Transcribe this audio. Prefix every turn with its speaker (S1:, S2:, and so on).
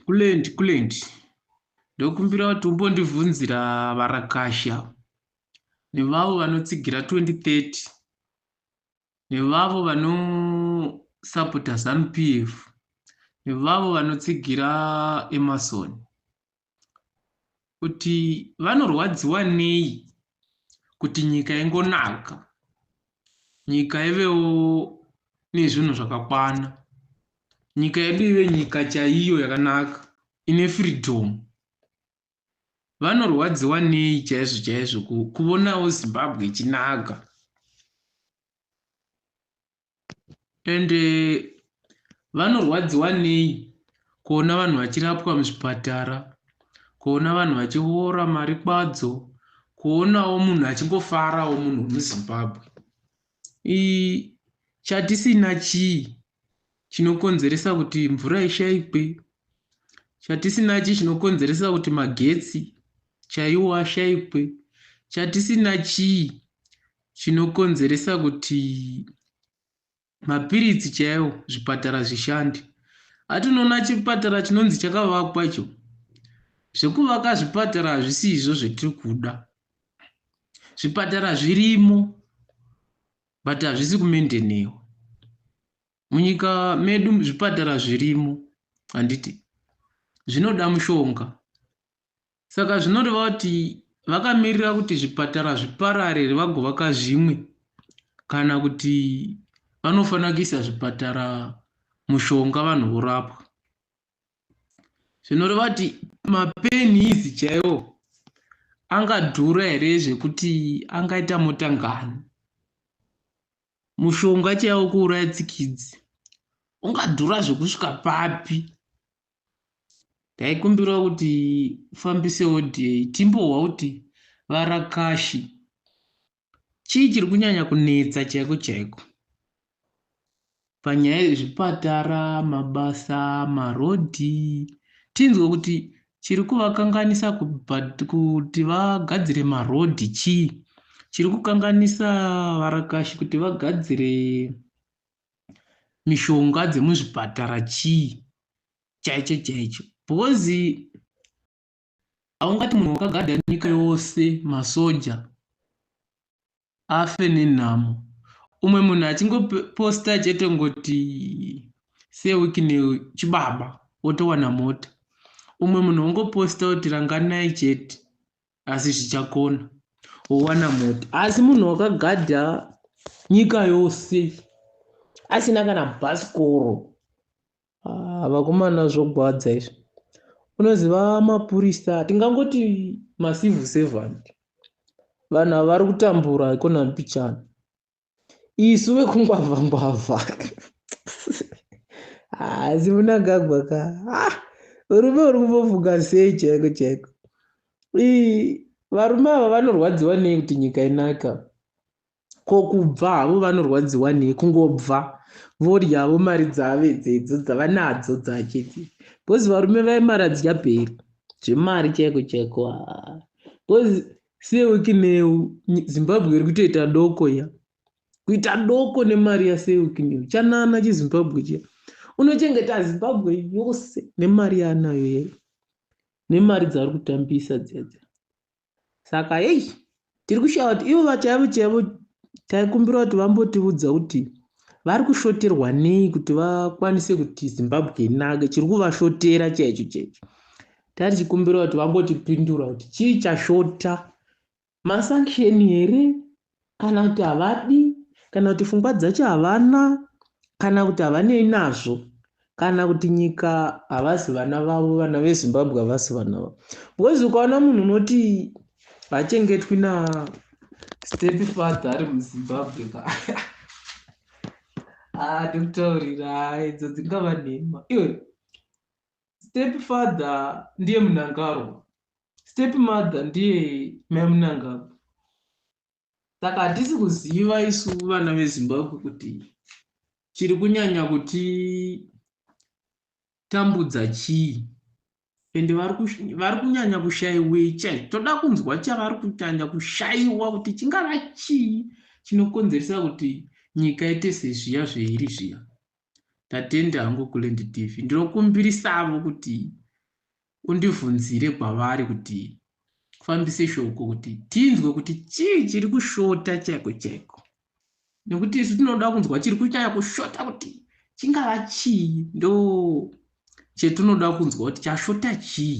S1: Kulent, Kulent. Ndokumbira kuti umbondivhunzira varakasha nevavo vanotsigira 2030 nevavo vanosapota zanu PF nevavo vanotsigira Emerson. kuti vanorwadziwa nei kuti nyika ingonaka nyika ivewo nezvinhu zvakakwana nyika yedu ive nyika chaiyo yakanaka ine freedom vanorwadziwa nei chaizvo chaizvo kuvonawo zimbabwe ichinaka and vanorwadziwa nei kuona vanhu vachirapwa muzvipatara kuona vanhu vachiora mari kwadzo kuonawo munhu achingofarawo munhu wemuzimbabwe chatisina chii chinokonzeresa kuti mvura ishaikwe chatisina chii chinokonzeresa kuti magetsi chaiwo ashaikwe chatisina chii Chinokonzeresa kuti mapiritsi chaiwo zvipatara zvishandi ati unoona chipatara chinonzi chakavakwa icho zvekuvaka zvipatara hazvisi izvo zvetiri kuda zvipatara zvirimo but hazvisi kumendenewa munyika medu zvipatara zvirimo handiti zvinoda mushonga Saka zvinoreva kuti vakamirira kuti zvipatara zviparare here vagovaka zvimwe kana kuti vanofanira kuisa zvipatara mushonga vanhu vorapwa zvinoreva kuti mapenhizi chaiwo angadhura here zvekuti angaita mota ngani mushonga chaiwo kuuraya tsikidzi ungadhura zvekusvika papi Taikumbirawo kuti ufambise audio iyi timbohwa kuti varakashi chii chiri kunyanya kunetsa chaiko chaiko panyaya yezvipatara mabasa marodhi tinzwe kuti chiri kuvakanganisa kuti vagadzire marodhi chii chiri kukanganisa varakashi kuti vagadzire mishonga dzemuzvipatara chii chaicho chaicho because haungati munhu wakagadha nyika yose masoja afe nenhamo umwe munhu achingoposta chete ngoti sewiki nechibaba wotowana mota umwe munhu wongoposta kuti ranganai chete asi zvichakona wowana mota asi munhu wakagadha nyika yose asina kana bhasikoro ah, vakomana zvogwadza izvi unoziva mapurisa tingangoti macivil servant vanhu vari kutambura ikona mbichana isu vekungwavha ngwavha haasi munangagwa ka ah, urume uri kumbofunga sei chaiko chaiko varume ava vanorwadziwa nei kuti nyika inaka ko kubva havo vanorwadziwa nei kungobva voryavo mari dzave dzedzo dzavanadzo dzachiti bcause varume vaye mari adzidya peri zvemari chaiko chaiko bcause Siya wekineu Zimbabwe iri kutoita doko ya kuita doko nemari yasiya wekineu chanana chizimbabwe chiya unochengeta Zimbabwe yose nemari yaanayo yeye nemari dzaari kutambisa dziya dziya saka heyi tiri kushaya kuti ivo vachaivo chaivo taikumbira kuti vambotiudza kuti vari kushoterwa nei kuti vakwanise kuti zimbabwe inake chiri kuvashotera chaicho chaicho Tari tichikumbira kuti vambotipindura kuti chii chashota masanction here kana kuti havadi kana kuti fungwa dzacho havana kana kuti havanei nazvo kana kuti nyika havasi vana vavo vana vezimbabwe havasi vana vavo because ukaona munhu unoti hachengetwi na step father ari muzimbabwe ka ah, ndikutaurira idzo dzingava nhema iwe Step father ndiye Mnangarwa. Step mother ndiye Mai Mnangagwa. Saka hatisi kuziva isu vana veZimbabwe kuti chiri kunyanya kuti tambudza chii ende vari kunyanya kushaiwei chai toda kunzwa chavari kunyanya kushaiwa kuti chingava chii chinokonzeresa kuti nyika ite sezviya zveiri zviya ndatenda hangu kuland tv ndinokumbirisavo kuti undivhunzire kwavari kuti kufambise shoko kuti tinzwe kuti chii chiri kushota chaiko chaiko nekuti isu tinoda kunzwa chiri kunyaya kushota kuti chingava chii ndo chetinoda kunzwa kuti chashota chii